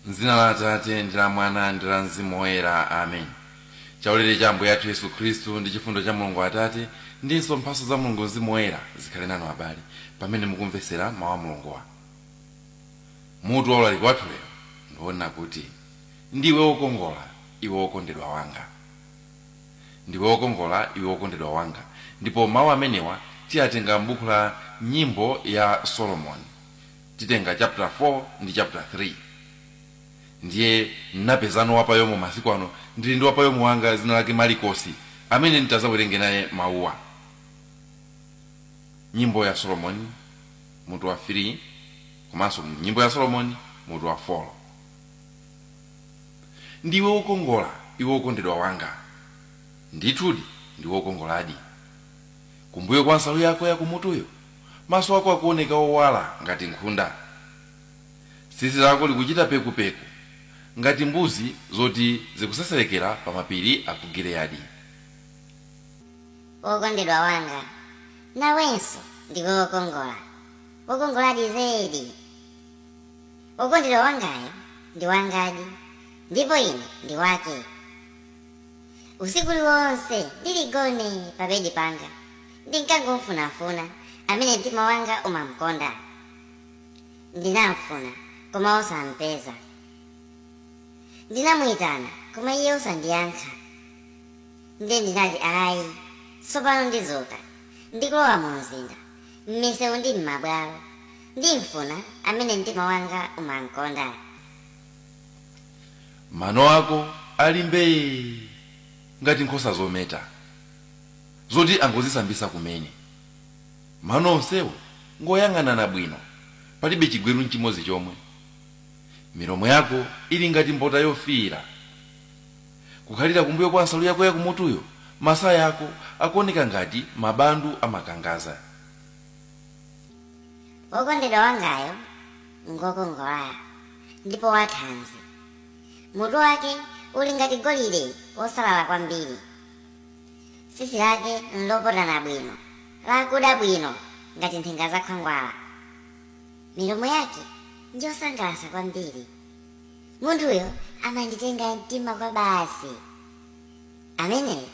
M'dzina la Atate ndi la Mwana ndi la Mzimu Woyera. Amen. Chaulere cha Ambuye athu Yesu Khristu ndi chifundo cha Mulungu Atate ndinso mphatso za Mulungu Mzimu Woyera zikhale nanu abale pamene mukumvetsera mawu a Mulunguwa. Mutu wa ulaliki wathu lero ndi wonena kuti ndiwe wokongola iwe wokondedwa wanga. Ndiwe wokongola iwe wokondedwa wanga ndipo mawu amenewa tiyatenga m'buku la Nyimbo ya Solomoni titenga chaputala 4 ndi chaputala 3 ndiye napezano wapayomo masiku ano ndili ndi wapayomo wanga dzina lake malikosi amene nditadzawerenge naye mawuwa nyimbo ya solomoni mutu wa 3 komanso nyimbo ya solomoni mutu wa 4 ndiwe wokongola iwe wokondedwa wanga ndithudi ndiwe wokongoladi kumbuyo kwa nsalu yako ya kumutuyo, maso ako akuoneka owala ngati nkhunda. Tsitsi lako likuchita pekupeku ngati mbuzi zoti zikuseserekera pamapiri a ku Giliyadi. Wokondedwa wanga, nawenso ndiwe wokongola, wokongoladi zedi! Wokondedwa wangayo ndi wangadi, ndipo ine ndi wake. Usiku uliwonse ndili gone pabedi panga, ndinkangomfunafuna, amene mtima wanga umamkonda. Ndinamfuna, koma osampeza. Ndinamuitana, koma iye osandiyankha. Ndiye ndinati, Ayi, tsopano ndidzuka, ndi kulowa mumzinda, m'miseu ndi m'mabwalo, ndimfuna amene mtima wanga umamkonda. mano ako ali mbee ngati nkhosa zometa zoti angozisambisa kumene mano onsewo ngoyang'anana bwino palibe chigweru nchimodzi chomwe milomo yako ili ngati mbota yofiira kukhalira kumbuyo kwa nsalu yako yakumutuyo masaya ako akuoneka ngati mabandu amakangaza Wokondedwa wangayo ngwokongola ndipo wathanzi. Mutu wake uli ngati golide wosalala kwambiri. Tsitsi lake nlopotana bwino, lakuda bwino ngati nthenga za khwangwala. Milomo yake njosangalatsa kwambiri. Munthuyo amanditenga mtima kwabasi. Ameneyu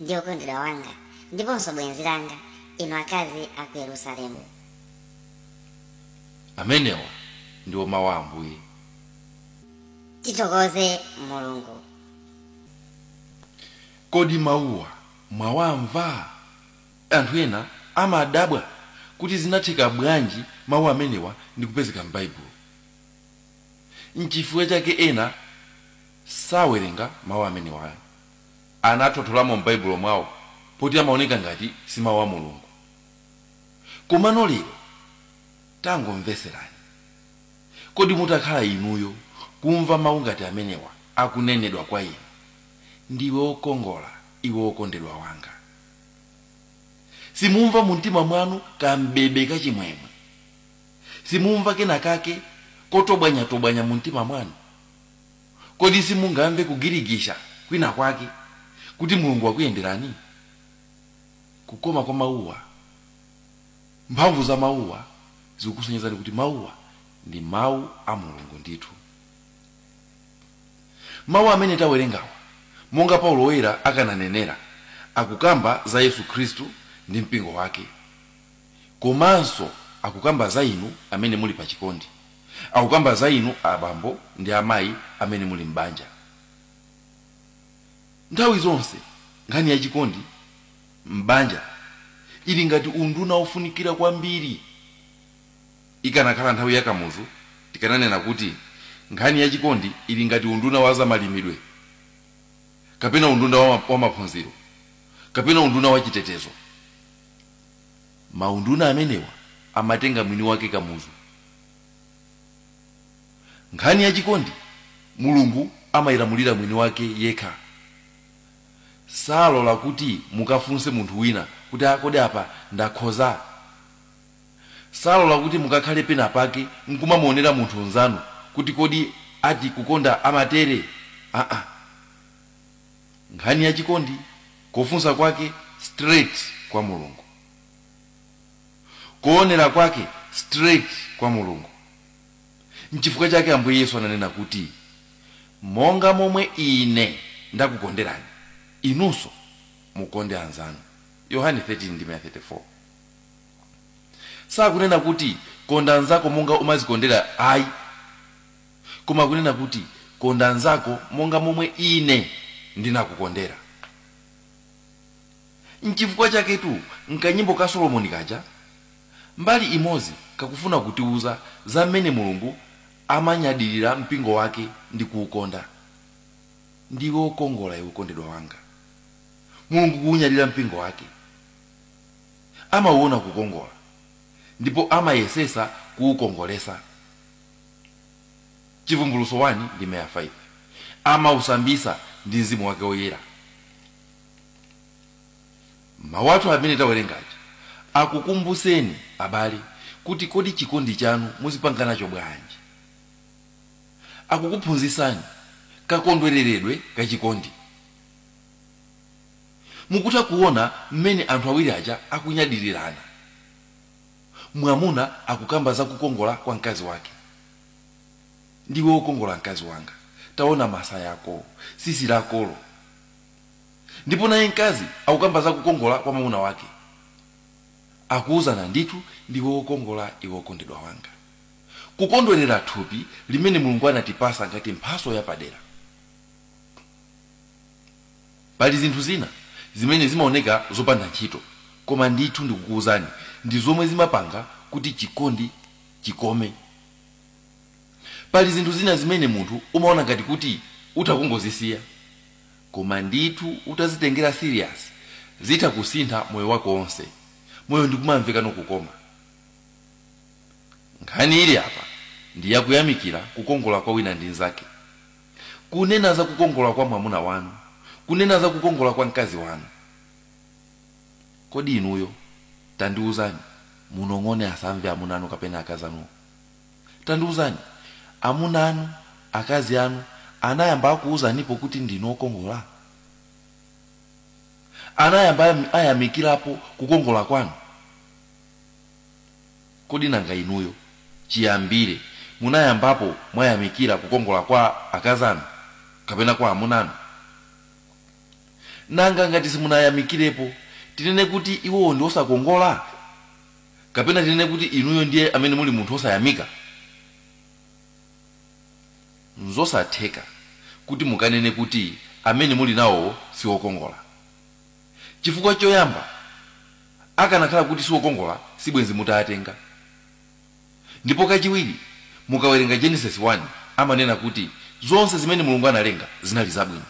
ndi wokondedwa wanga ndiponso bwenzi langa, inu akazi a ku Yerusalemu. Amenewa ndiwo mawu a Ambuye. Tithokoze Mulungu. Kodi mawuwa mwawamva? Anthu ena amadabwa kuti zinatheka bwanji mawu amenewa ndi kupezeka m'Baibulo. N'chifukwa chake ena sawerenga mawu amenewa. Anathotholamo m'Baibulo mwawo poti amaoneka ngati si mawu a Mulungu. Komano lero tangomvetserani. Kodi mutakhala inuyo kumva mawu ngati amenewa akunenedwa kwa inu, Ndiwe wokongola, iwe wokondedwa wanga? Simumva mumtima mwanu kam'bebe kachimwemwe? Simumva kenakake kotobwanyatobwanya mumtima mwanu? Kodi simungamve kugirigisha kwinakwake kuti Mulungu wakuyenderani? Kukoma kwa mawuwa, mphamvu za mawuwa zikukusonyezani kuti mawuwa ndi Mawu a Mulungu ndithu. Mawu amene tawerengawa, monga Paulo Woyera akananenera, akukamba za Yesu Khristu ndi mpingo wake. komanso akukamba za inu amene muli pa chikondi akukamba za inu abambo ndi amayi amene muli m'banja nthawi zonse nkhani ya chikondi m'banja ili ngati unduna wofunikira kwambiri ikanakhala nthawi ya kamuzu tikananena kuti nkhani ya chikondi ili ngati unduna wa zamalimidwe kapena unduna wa maphunziro kapena unduna wa chitetezo maunduna amenewa amatenga mwini wake kamuzu nkhani ya chikondi mulungu amayilamulira mwini wake yekha salola kuti mukafunse munthu wina kuti akodi apa ndakhoza salola kuti mukakhale pena pake nkumamuonera munthu nzanu kuti kodi ati kukonda amatere aa nkhani ya chikondi kofunsa kwake straight kwa mulungu koonera kwake straight kwa mulungu nchifukwa chake ambuye yesu ananena kuti monga momwe ine ndakukonderani inunso mukonde anzanu yohane 13 ndime ya 34 sakunena kuti konda anzako monga umazikondera ayi Koma kunena kuti, Konda mnzako monga momwe ine ndinakukondera. N'chifukwa chaketu m'kanyimbo ka Solomoni kaja, mbali imodzi kakufuna kutiuza za mmene Mulungu amanyadirira mpingo wake ndi kuukonda. Ndiwe wokongola, iwe wokondedwa wanga. Mulungu kuunyadira mpingo wake. Amauona kukongola ndipo amayesetsa kuukongoletsa. Chivumbulutso 1 ndime ya 5, amausambitsa ndi mwazi wake woyera. Mau athu amene tawerenga aja akukumbutseni abale kuti kodi chikondi chanu muzipanga nacho bwanji. Akukuphunzitsani kakondwereredwe ka chikondi. Mukutha kuona m'mene anthu awiri aja akunyadirirana. Mwamuna akukamba za kukongola kwa mkazi wake. Ndiwe wokongola, mkazi wanga. Taona masaya ako, tsitsi lakolo. Ndipo naye mkazi akukamba za kukongola kwa mwamuna wake. Akuuzana, Ndithu ndiwe wokongola, iwe wokondedwa wanga. Kukondwerera thupi limene Mulungu anatipasa ngati mphaso yapadera. Pali zinthu zina zimene zimaoneka zopanda ntchito, koma ndithu ndikukuuzani, ndi zomwe zimapanga kuti chikondi chikome. Pali zinthu zina zimene munthu umaona ngati kuti utha kungozisiya, koma ndithu utazitengera serious zitha kusintha moyo wako onse, moyo ndikumamvekano kukoma. Nkhani ili apa ndi ya kuyamikira kukongola kwa wina ndi nzake. kunena za kukongola kwa mwamuna wanu, kunena za kukongola kwa mkazi wanu. Kodi inuyo, tandiuzani, munong'one asamve amuna anu kapena akazi anu. Tandiuzani, amuna anu, akazi anu anayamba akuuzanipo kuti ndinu okongola? Anayamba ayamikirapo kukongola kwanu? Kodi nanga inuyo chiyambire munayambapo mwayamikira kukongola kwa akazi anu kapena kwa amuna anu? Nanga ngati simunayamikirepo, tinene kuti iwowo ndi osakongola? Kapena tinene kuti inuyo ndiye amene muli munthu wosayamika? N'zosatheka kuti mukanene kuti amene muli nawowo si okongola. Chifukwa choyamba, Akanakhala kuti siokongola sibwenzi mutaatenga. Ndipo kachiwiri mukawerenga Genesis 1 amanena kuti zonse zimene Mulungu analenga zinali zabwino.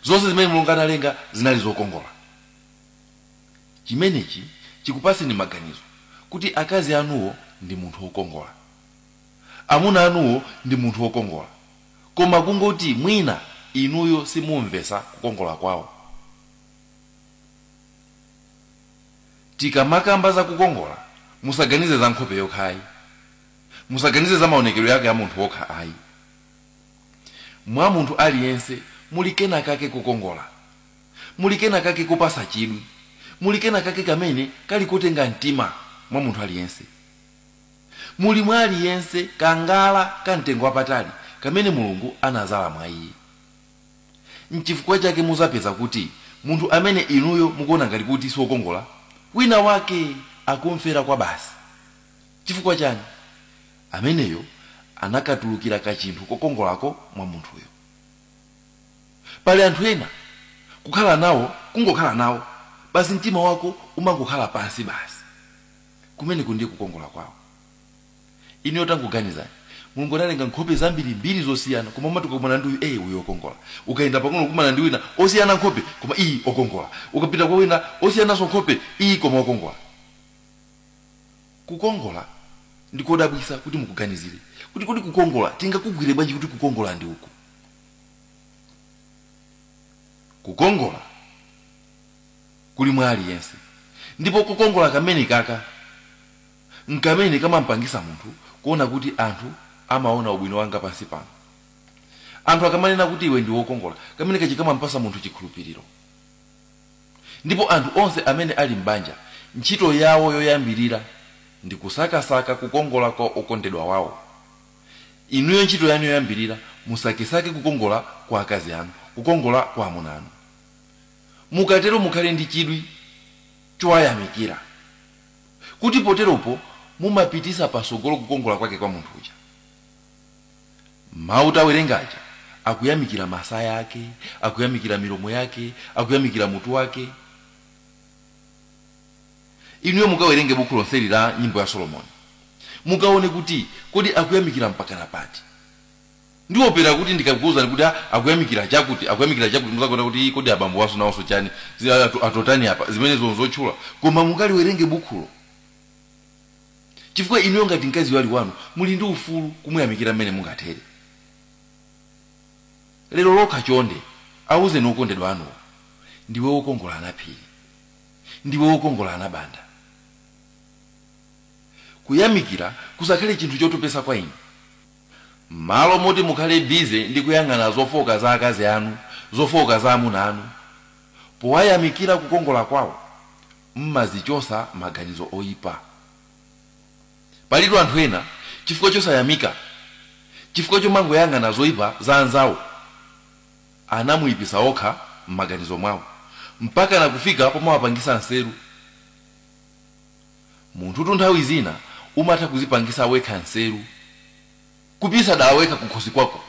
Zonse zimene Mulungu analenga zinali zokongola. Chimenechi chikupatseni maganizo kuti akazi anuwo ndi munthu wokongola. Amuna anuwo ndi munthu wokongola. Koma kungoti mwina inuyo simumvetsa kukongola kwawo. Tikamakamba za kukongola, musaganize za nkhope yokha ayi. Musaganize za maonekedwe ake a munthu okha ayi. Mwa munthu aliyense muli kenakake kokongola. Muli kenakake kopasa chidwi. Muli kenakake kamene kali kotenga mtima mwa munthu aliyense. Muli mwa aliyense kangala ka mtengo wapatali kamene Mulungu anazala mwa iye. N'chifukwa chake mudzapeza kuti munthu amene inuyo mukuona ngati kuti si wokongola, winawake akum'fera kwa basi. Chifukwa chiyani? Ameneyo anakatulukira kachinthu kokongolako mwa munthuyo. Pali anthu ena, kukhala nawo kungokhala nawo basi, mtima wako umangokhala pansi basi. Kumeneku ndiye kukongola kwawo. inuyo tangoganizani mulungu analenga nkhope zambirimbiri zosiyana koma umati ukakumana ndi uyu ee uyu okongola ukayenda pang'ono kukumana ndi wina osiyana nkhope koma iyi okongola ukapita kwa wina osiyananso nkhope iyi koma okongola kukongola ndi kodabwisa kuti muganizire kuti kodi kukongola tingakugwire bwanji kuti kukongola ndi uku kukongola kuli mwa aliyense ndipo kukongola kamene kaka n'kamene kamam'pangitsa munthu kuona kuti anthu amaona ubwino wanga pansi pano. Anthu akamanena kuti iwe ndi wokongola, kameneka kamam'patsa munthu chikhulupiriro. Ndipo anthu onse amene ali m'banja, ntchito yawo yoyambirira ndi kusakasaka kukongola kwa okondedwa wawo. Inuyo ntchito yanu yoyambirira musakesake kukongola kwa akazi anu, kukongola kwa amuna anu. Mukatero mukhale ndi chidwi chowayamikira. kuti poteropo mumapitisa pasogolo kukongola kwake kwa munthu uja. Mau tawerenga aja akuyamikira masaya ake, akuyamikira milomo yake, akuyamikira mutu wake. Inuyo mukawerenge bukhu lonseli la nyimbo ya Solomoni, mukaone kuti kodi akuyamikira mpakana pati. Ndiwopera kuti ndikakuuzani kuti a akuyamikira chakuti, akuyamikira chakuti muzanena kuti ii kodi abambo awanso nawonso chani zi atu, atotani apa zimenezo nzotchula koma mukaliwerenge bukhulo chifukwa inuyo ngati mkaziyo ali wanu muli ndi ufulu kumuyamikira mmene mungathere. Lero lokha chonde auzeni okondedwa anuwo ndiwe wokongola a Naphiri, ndiwe wokongola a Nabanda. Kuyamikira kusakhale chinthu chotopetsa kwa inu. Mmalo moti mukhale busy ndi kuyang'ana zofooka za akazi anu, zofooka za amuna anu, powayamikira kukongola kwawo, mmazichosa maganizo oipa. Palitu anthu ena chifukwa chosayamika, chifukwa chomangoyang'ana zoipa za anzawo, anawaipisa okha mmaganizo mwawo, mpakana kufika pomawapangisa nseru. Munthutu nthawi zina umatha kuzipangisa wekha nseru kuipisa dala wekha kukhosi kwako.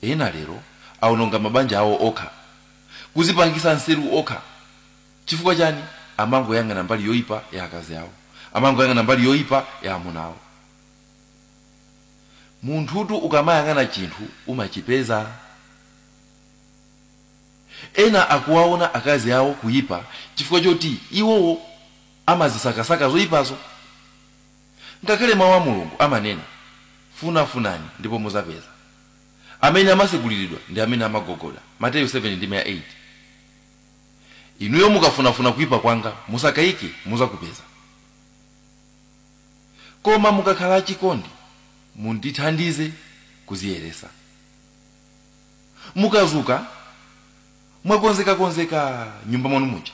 Ena lero aononga mabanja awo okha, kuzipangisa nseru okha chifukwa chani? Amangoyang'ana mbali yoipa ya akazi awo, amangoyang'ana mbali yoipa ya amuna awo. Munthutu ukamayang'ana chinthu umachipeza. Ena akuwaona akazi awo kuipa chifukwa choti iwowo amazisakasaka zoipazo. Ngakhale Mawu a Mulungu amanena, Funafunani ndipo mudzapeza. Amene amatseguliridwa ndi amene amagogoda, Mateyu 7 ndime ya 8. Inuyo mukafunafuna kuipa kwanga, musakayike, mudzakupeza. Koma mukakhala achikondi, mundithandize kudziyeretsa. Mukazuka mwakonzeka konzeka m'nyumba mwanu muja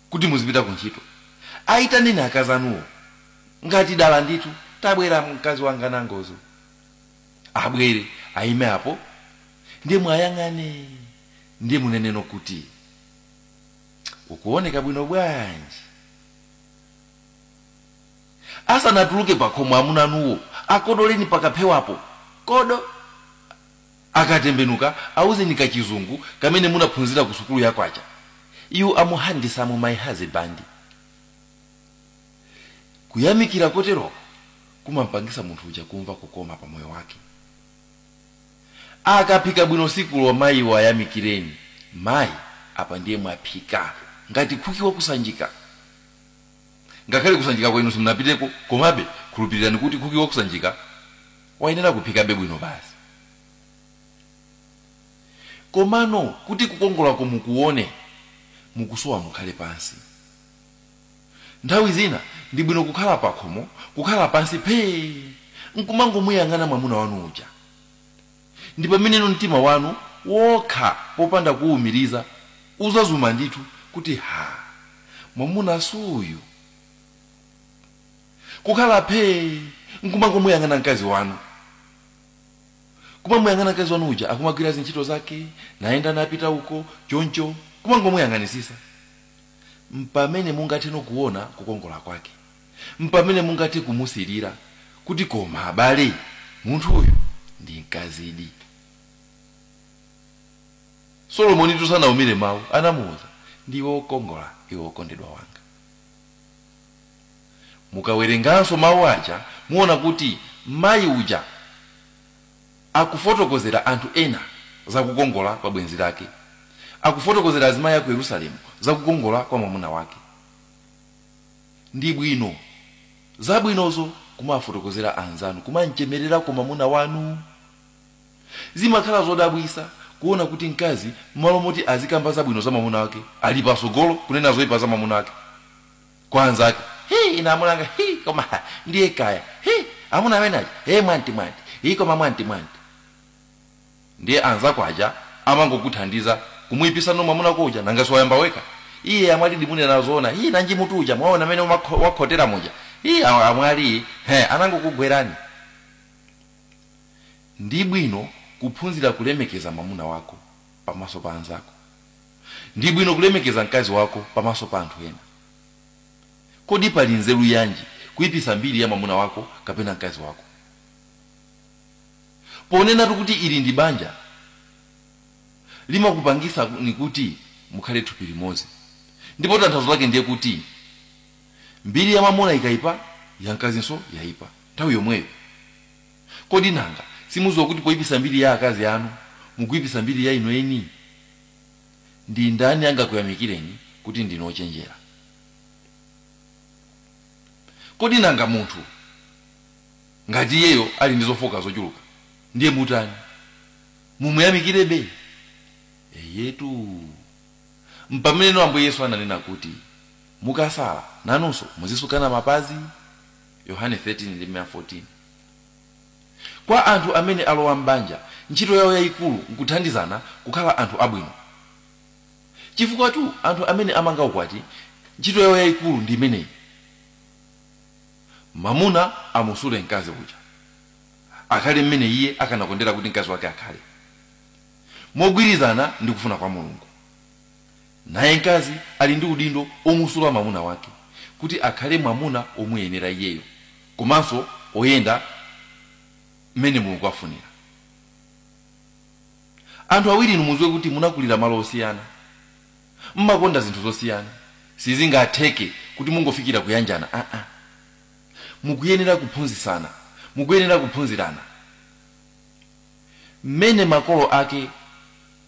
kuti muzipita ku ntchito ayitaneni akazi anuwo ngati dala ndithu tabwera mkazi wanga nangozo abwere ayime apo ndiye muayang'ane ndiye muneneno kuti ukuoneka bwino bwanji Asanatuluke pakhomo amuna anuwo akodoleni pakaphewapo, kodo! Akatembenuka auzeni kachizungu kamene munaphunzira kusukulu ya kwacha, You are handsome my husband. Kuyamikira kotero kumampangitsa munthu uja kumva kukoma pamoyo wake. Akaphika bwino tsikulo maiwo ayamikireni, Mai, apa ndiye mwaphika ngati khuki waku Sanjika. Ngakhale ku Sanjikako inu simunapiteko, komabe khulupirirani kuti khuki waku Sanjika wayenera kuphikabe bwino basi. Komano kuti kukongolako mukuwone, mukusowa mukhale pansi. Nthawi zina ndi bwino kukhala pakhomo, kukhala pansi phee, nkumangomuyang'ana mwamuna wanu uja. Ndi pameneno mtima wanu wokha popanda kuuwumiriza uzadzuma ndithu kuti ha! Mwamuna suuyu. Kukhala phee nkumangomuyang'ana mkazi wanu. Kumamuyang'ana mkazi wanu uja akumagwira zintchito zake, nayenda napita uko, choncho, kumangomuyang'anisisa. Mpamene mungatheno kuona kukongola kwake. mpamene mungathe kumusilira kuti koma abale munthuyu ndi mkazidi. Solomonitu sanaumire mawu, anamuuza, Ndiwe wokongola, iwe wokondedwa wanga. Mukawerenganso mawu aja muona kuti mayi uja akufotokozera anthu ena za kukongola kwa bwenzi lake, akufotokozera azimayi a ku Yerusalemu za kukongola kwa mwamuna wake. Ndi bwino zabwinozo kumawafotokozera anzanu, kumamchemererako mamuna wanu. Zimakhala zodabwitsa kuona kuti mkazi mmalo moti azikamba zabwino za mamuna wake ali patsogolo kunena zoipa za mamuna wake kwa anzake. Hi ine amuna anga hi koma ha ndiye kaya hi amuna amene aja he mwanti mwanti hi koma mwanti mwanti. Ndiye anzako aja amangokuthandiza kumuipisa no mwamunako uja nanga siwayamba wekha ii amwalidi munena zoona ii nanji mutu uja mwaona mene wakhotera muja ii a- amwali he anangokugwerani ndi bwino kuphunzira kulemekeza mwamuna wako pamaso pa anzako ndi bwino kulemekeza mkazi wako pamaso pa anthu ena kodi pali nzeru yanji kuipisa mbiri ya mwamuna wako kapena mkazi wako ponenatu kuti ili ndi banja limakupangisani kuti mukhale thupi limodzi ndipo tanthauzo lake ndiye kuti mbiri ya mamuna ikaipa ya mkazinso yaipa nthawi yomweyo kodi nanga simuziwa kuti poipisa mbiri ya akazi anu mukuipisa mbiri ya inu eni ndi ndani angakuyamikireni kuti ndinu ochenjera kodi nanga munthu Ngati iyeyo ali ndi zofooka zochuluka, ndiye mutani? Mumuyamikirebe? Eyetu. M'pameneno Ambuye Yesu ananena kuti, Mukasala, nanunso muzisukana mapazi. Yohane 13 ndi ndime ya 14. Kwa anthu amene alowa m'banja, ntchito yawo yaikulu n'kuthandizana kukhala anthu abwino. Chifukwatu anthu amene amanga ukwati ntchito yawo yaikulu ndi imeneyi. Mwamuna amusule mkazi uja, akhale mmene iye akanakondera kuti mkazi wake akhale, mogwirizana ndi kufuna kwa Mulungu. Naye mkazi ali ndi udindo womusula mwamuna wake kuti akhale mwamuna womuyenera iyeyo komanso woyenda mmene Mulungu afunira. Anthu awiri inu mudziwe kuti munakulira malo osiyana. mmakonda zinthu zosiyana sizingatheke kuti mungofikira kuyanjana aa mukuyenera kuphunzisana mukuyenera kuphunzirana mmene makolo ake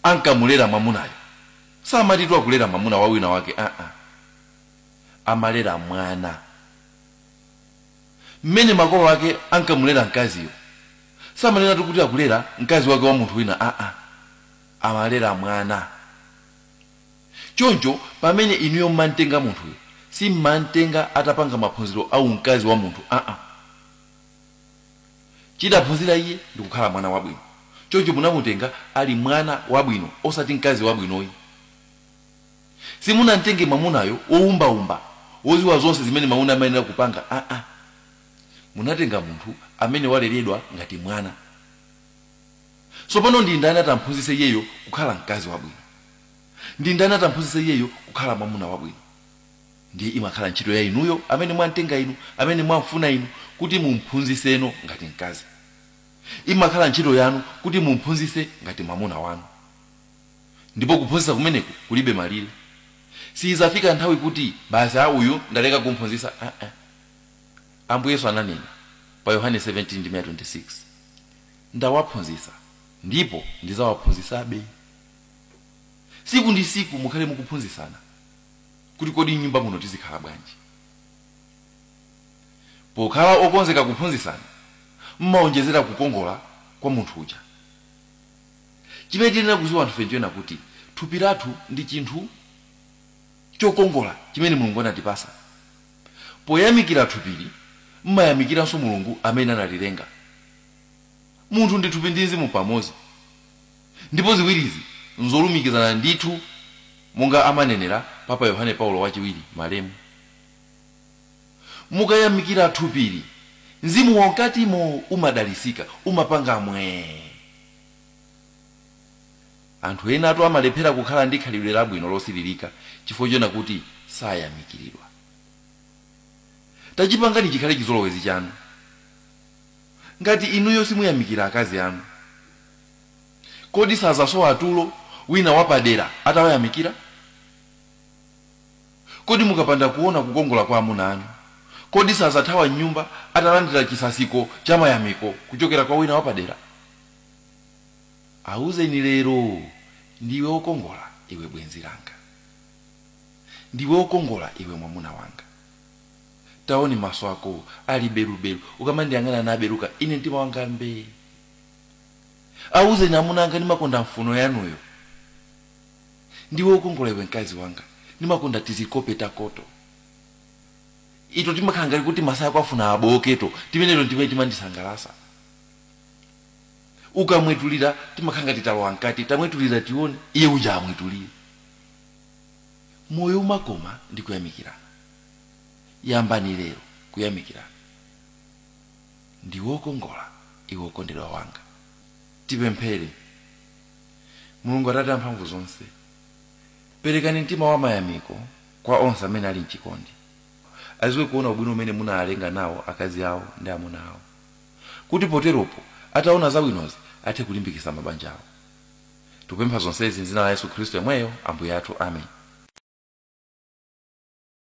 ankamulera mwamunayo samatitu akulera mwamuna wa wina wake aa amalera mwana mmene makolo ake ankamulera mkaziyo samanenatu kuti akulera mkazi wake wa munthu wina aa amalera mwana. Choncho pamene inuyo mmamtenga munthuyo simmamtenga atapanga maphunziro a umkazi wa munthu aa. Chidaphunzira iye ndi kukhala mwana wabwino. Choncho munamutenga ali mwana wabwino osati mkazi wabwinoyi. Simunamtenge mwamunayo woumbaumba, woziwa zonse zimene mwamuna amayenera kupanga aa. Munatenga munthu amene waleredwa ngati mwana. Tsopano, ndi ndani atamphunzitse iyeyo kukhala mkazi wabwino? Ndi ndani atamphunzitse iyeyo kukhala mwamuna wabwino? Ndiye imakhala ntchito ya inuyo, amene mwamtenga inu, amene mwamfuna inu, kuti mumphunzitseno ngati mkazi. Imakhala ntchito yanu kuti mumphunzitse ngati mwamuna wanu. Ndipo kuphunzitsa kumeneku kulibe malire. Siidzafika nthawi kuti, Basi, a, uyu ndaleka kumphunzitsa. A-nha. Ambuye Yesu ananena, pa Yohane 17 ndime ya 26. Ndawaphunzitsa ndipo ndizawaphunzitsabe. Siku ndi siku mukhale mukuphunzitsana kuti kodi mnyumba muno tizikhala bwanji. Pokhala okonzeka kuphunzitsana mmaonjezera kukongola kwa munthu uja. Chimene tiyenera kuziwa anthufe nchoena kuti thupi lathu ndi chinthu chokongola chimene Mulungu anatipasa. Poyamikira thupili mmayamikiranso Mulungu amene analilenga. Munthu ndi thupi ndi mzimu pamodzi, ndipo ziwirizi nzolumikizana ndithu monga amanenera Papa Yohane Paulo Wachiwiri, malemu. Mukayamikira thupili, mzimu wamkatimo umadalitsika, umapanga mwee. Anthu enatu amalephera kukhala ndi khalidwe labwino losilirika chifukwa choena kuti sayamikiridwa. Tachipangani chikhale chizolowezi chanu. Ngati inuyo simuyamikira akazi anu, kodi sadzasowa tulo wina wapadera atawayamikira? Kodi mukapanda kuona kukongola kwa amuna anu, kodi sadzathawa m'nyumba atalandira chisasiko cha mayamiko kuchokera kwa wina wapadera? Auzeni lero, Ndiwe wokongola, iwe bwenzi langa. Ndiwe wokongola, iwe mwamuna wanga. Taoni maso akowo ali belubelu. Ukamandiyang'ana nabeluka, ine mtima wanga mbee. Awuzeni amuna anga ndimakonda mphuno yanuyo. Ndiwe wokongola iwe mkazi wanga. Ndimakonda tizikope takoto. Ito timakhala ngati kuti masaya ako afuna abooketo. Timeneto n'timene timandisangalasa. Ukamwetulira timakhala ngati talowa mkati. Tamwetulira tione, iye uja amwetulire. Moyo umakoma ndi kuyamikirana. yambani lero kuyamikirana ndiwe wokongola iwe wokondedwa wanga tipemphere mulungu atate amphamvu zonse perekani mtima wa mayamiko kwa onse amene ali mchikondi aziwe kuona ubwino umene munawalenga nawo akazi awo ndi amuna awo kuti poteropo ataona zabwinozi athe kulimbikitsa mabanja awo tikupempha zonsezi m'dzina la yesu khristu yemweyo ambuye athu amen